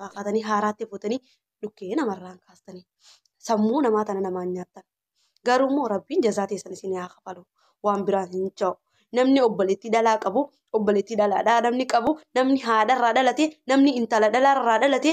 baaqatanii haaraatti fuutanii dhukkee namarraan kaastanii sammuu namaa tana namaan nyaattan garuu immoo rabbiin jazaa teessan isin haa kafalu waan biraan hin ja'u namni obboleettii dhalaa qabu obboleettii dhalaadhaa namni qabu namni haadharraa dhalate namni intala dhalaarraa dhalate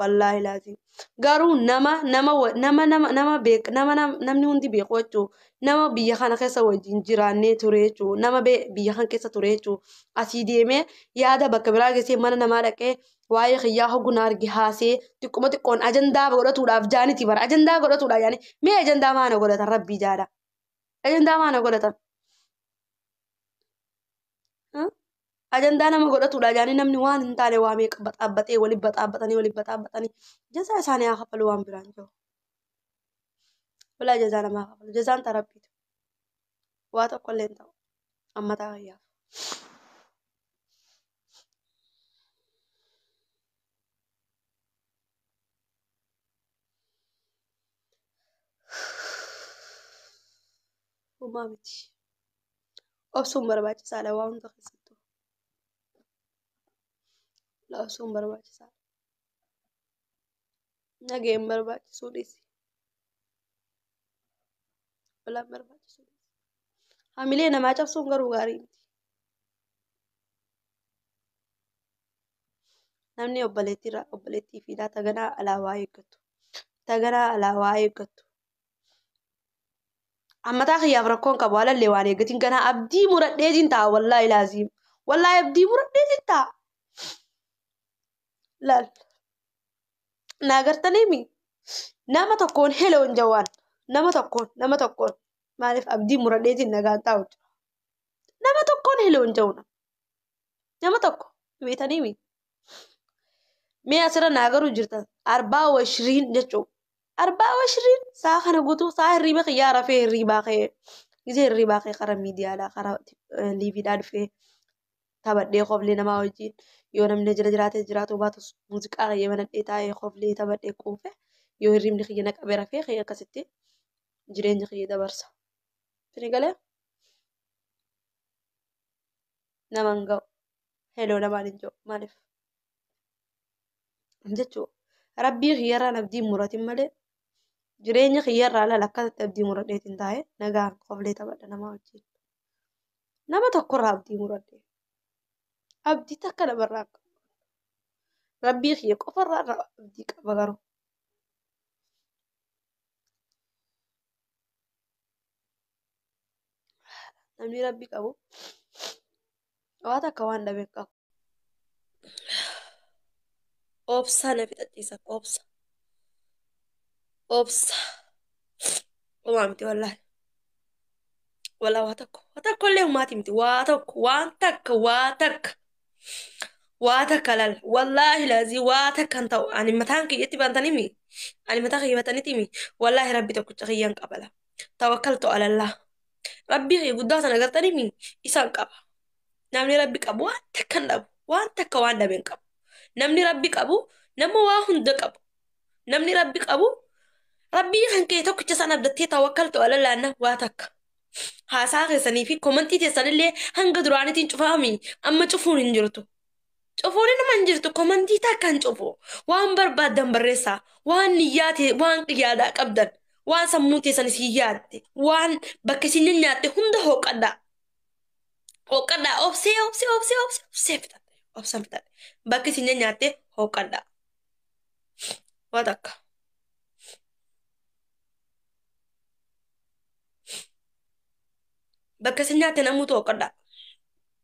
wallaahi laaziim garuu nama nama wa- nama nama nama beek nama nam- namni hundi beeku jechuu nama biyya kana keessa wajjin jiraannee ture jechuu nama bee- biyya kana keessa ture jechuu asii deemee yaada bakka biraa geessee mana namaa dhaqee waa'ee kiyyaa hogguu na arge haasee xiqquma xiqqoon ajandaa godhatuudhaaf jaaniti bara ajandaa godhatuudhaaf yaani mee ajandaa maana godhatan rabbii jaadha ajandaa maana godhatan Huh? ajandaa nama godhatudha jaanii namni waan hin taane waa meeqa baxaabbaxee wali baxaabbatanii wali baxaabbatanii jazaa isaanii haa kafalu waan biraan jiru. Walaa jazaa namaa kafalu jazaan ta rabbiitu waa tokko illee hin ta'u amma taa fayyaaf. Uumaa miti. obsuun barbaachisaadha waan hunda keessattuu obsuun barbaachisaadha nageen barbaachisuu dhiisi walaan barbaachisuu dhiisi hamilee namaa cabsuun garuu gaarii miti namni obboleettiirraa obboleettii fi taganaa alaabaa eeggattu taganaa alaabaa eeggattu Ammataa kiyyaaf rakkoon qabu alallee waan eeggatiin ganaa abdii muradheetiin ta'a wallaahi laaziim. Wallaahi abdii muradheetiin ta'a. Laal. Naa gartanii mi? Nama tokkoon heloon jawaan. Nama tokkoon nama tokkoon maaliif abdii muradheetiin nagaan taa'u jira. Nama tokkoon heloon jawna. Nama tokko beetanii mi? Mee asirra naa garuu jirtan arbaa washiriin jechuun Arbaa washriin saa kana gutuu saa hirriiba kiyyaa rafee hirriibaa kee gizee hirriibaa kee kara miidiyaadhaa kara liiviidhaa dhufee taphadhee koflee namaa wajjin yoo namni jira jiraatee jiraatuu baatus muuziqaa kiyya banadhee taa'ee koflee taphadhee quufee yoo hirriibni kiyya na qabee rafee kee akkasitti jireenya kiyya dabarsa. Sini galee naman ga'u heloo namaan hin jiru maaliif? jechuu rabbii kiyyarraan abdii muratin malee jireenya kiyyarraa laal akkasatti abdii muradheetiin taa'e nagaan qoflee taphadha namaa wajjin nama tokkorraa abdii muradhe abdii takka namarraa qabu rabbii kiyya qofarraa irraa abdii qaba garuu namni rabbi qabu waa takka waan dhabe hin qabu obsaa na fixachiisan obsa obsa homaa miti wallaahi walaa waa tokko waa tokko illee homaati miti waa tokko waan takka waa takka waa takka lal wallaahi laazii waa takka hin ta'u ani mataan kiyyatti bantanii mi ani mataa kiyya batanitii mi wallaahi rabbi tokkicha kiyyan qabala tawakkaltu alallah rabbii kiyya guddaa sana gartaniimi isaan qaba namni rabbi qabu waan takka hin dhabu waan takka waan dhabe hin qabu namni rabbi qabu nama waa hunda qabu namni rabbi qabu rabbii kan kee tokkicha isaan abdattee tawakkaltu alallaanna waa takka haasaa keessanii fi komantii keessanillee hanga duraanitiin cufaami amma cufuun hin jirtu Cufuun inuma hin jirtu komantii takkaan cufu. Waan barbaaddan barreessaa. Waan niyyaa tee waan yaadaa qabdan. Waan sammuun teessan isin yaadde. Waan bakka isin nyanyaatte hunda hooqqadhaa. Hooqqadhaa obsee obsee obsee obsee obsee fixadhe. Obsan fixadhe. Bakka isin nyanyaatte hooqqadhaa. Waa takka. Bakka isin nyaatte namuutu hooqqadhaa.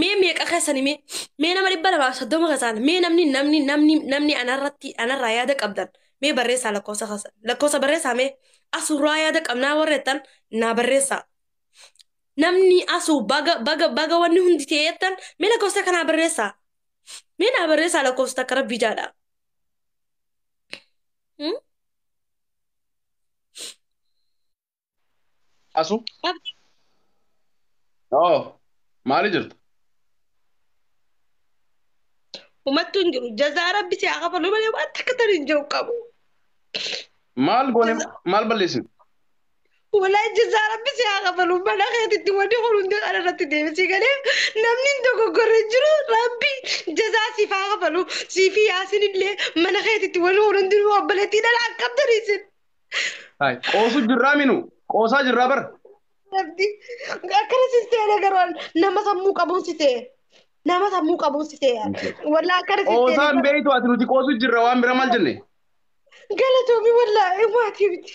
mee meeqa keessani mee mee nama dhibba lamaaf soddoma keessaan mee namni namni namni namni anarratti anarraa yaada qabdan mee barreessaa lakkoofsa keessan lakkoofsa barreessaa mee asuurraa yaada qabnaa warra jettan naa barreessaa namni asuu baga baga baga wanni hundi ta'e jettan mee lakkoofsa kanaa barreessaa mee naa barreessaa lakkoofsa takka rabbii jaadha. Hmm? Asu? Abdi. Oo, maali jirta? Umattu hin jiru. Jazaa rabbi si haa kafalu malee waan takka tan hin jiru qabu. Maal goone Jaza- maal balleessine? Walaa ijjizaa rabbi si haa kafalu mana keetitti wanni kun hundi kana irratti deebisii galee namni hin dogoggorre hin jiru rabbi jazaa siif haa kafalu siifi yaasin illee mana keetitti wanni kun hundi obboleettii dhala akkabdanii isin Hai. Qoosu jirraa minu. Qoosaa jirraa bar. rabbi akkana si seene garuu nama sammuu qabuun si seene nama sammuu qabuun si seene walaa akkana si seene Qoosaan garuu beeytu ati nuti qoosu jirra waan bira maal jenne. galatoomi walaa maatii miti.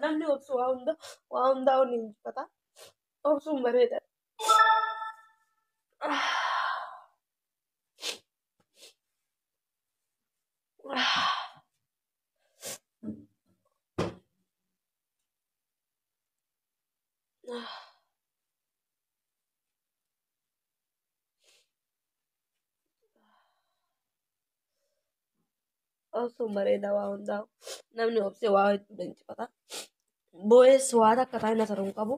Namni obsu waa hunda waa hundaa ol injifata. Obsuun bareeda. Obsuun bareeda waa hundaa. Namni obsee waa hedduu leenjifata. Boo'ees waa takka taa'ee na saruu hin qabu.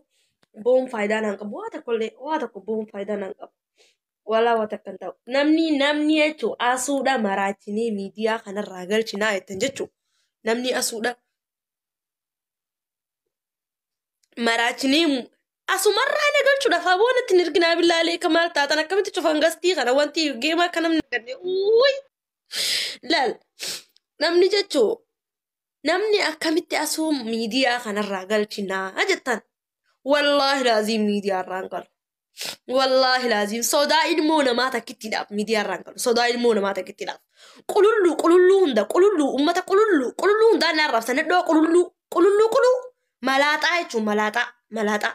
Bo'uun faayidaa naan qabu. Waa tokko illee waa tokko bo'uun faayidaa naan qabu. Walaa waa takka hin ta'u. Namni namni jechuun asuudha maraachinee miidiyaa kanarraa galchinaa jettan jechuun namni asuudha maraachinee Asumarraa na galchuudhaaf aboo natti hin erginaa billaalee ka maal taatan akkamitti cufan gastii kana wanti geemaa akka namni arganne uuyi laal namni jechuu namni akkamitti asuu miidiyaa kanarraa galchinaa jettan wallaahi laaziim miidiyaa irraa hin galu wallaahi laaziim sodaa ilmoo namaa takkittiidhaaf miidiyaa irraa hin galu sodaa ilmoo namaa takkittiidhaaf qululluu qululluu hunda qululluu ummata qululluu qululluu hundaa na arrabsan iddoo qululluu qululluu quluu malaaxaa jechuun malaaxaa malaaxaa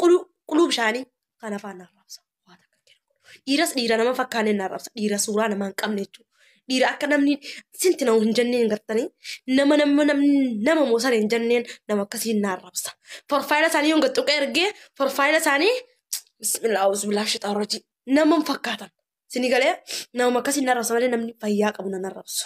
quluu quluu bishaanii kan afaan na arrabsa waa takka hin jedhu dhiiras dhiira nama fakkaaneen na arrabsa dhiira suuraa namaa hin qabne jechuudha dhiira akka namni sinti na hin jenneen gartanii nama nama namni nama moosara hin jenneen nama akkasiin na arrabsa forfaayila isaanii yoon gaxxuqee ergee forfaayila isaanii bismillah auzubillah shixaan rajii nama hin fakkaatan sini galee nama akkasiin na arrabsa malee namni fayyaa qabu na arrabsu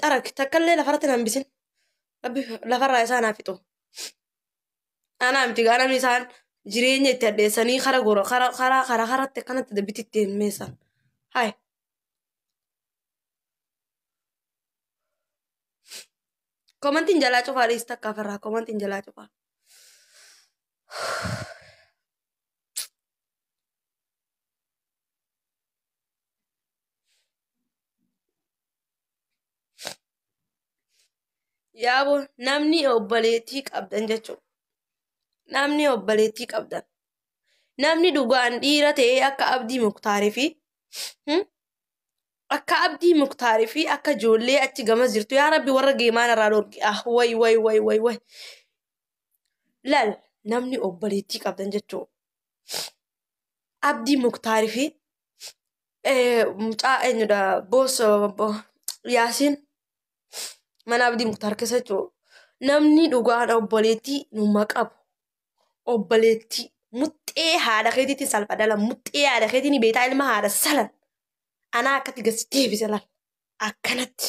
xarag takkallee lafarratti na hambisin rabbi lafarraa isaan haa fixu anaa miti gaa namni isaan jireenya itti addeessanii kara gora kara kara kara karatti akkanatti dabbiti itti himmeessan hay komantiin jalaa cufaa dhiis takka ofirraa komantiin jalaa cufaa Yaaboo namni obboleettii qabdan jechuudha. Namni obboleettii qabdan. Namni dhugaan dhiira ta'ee akka abdii muktaarii fi akka abdii muktaarii fi akka ijoollee achi gamas jirtu yaa rabbi warra geemaan irraa dhorki ah way way way way way lal namni obboleettii qabdan jechuudha. Abdii muktaarii fi Eh, mucaa eenyudha boos yaasiin mana abdii muktaar keessa jiru namni dhugaan obboleettii numa qabu obboleettii muxxee haadha keetiitiin salpha dhala muxxee haadha keetiin beetaa ilma haadha salan anaa akkatti gasi deebise laal akkanatti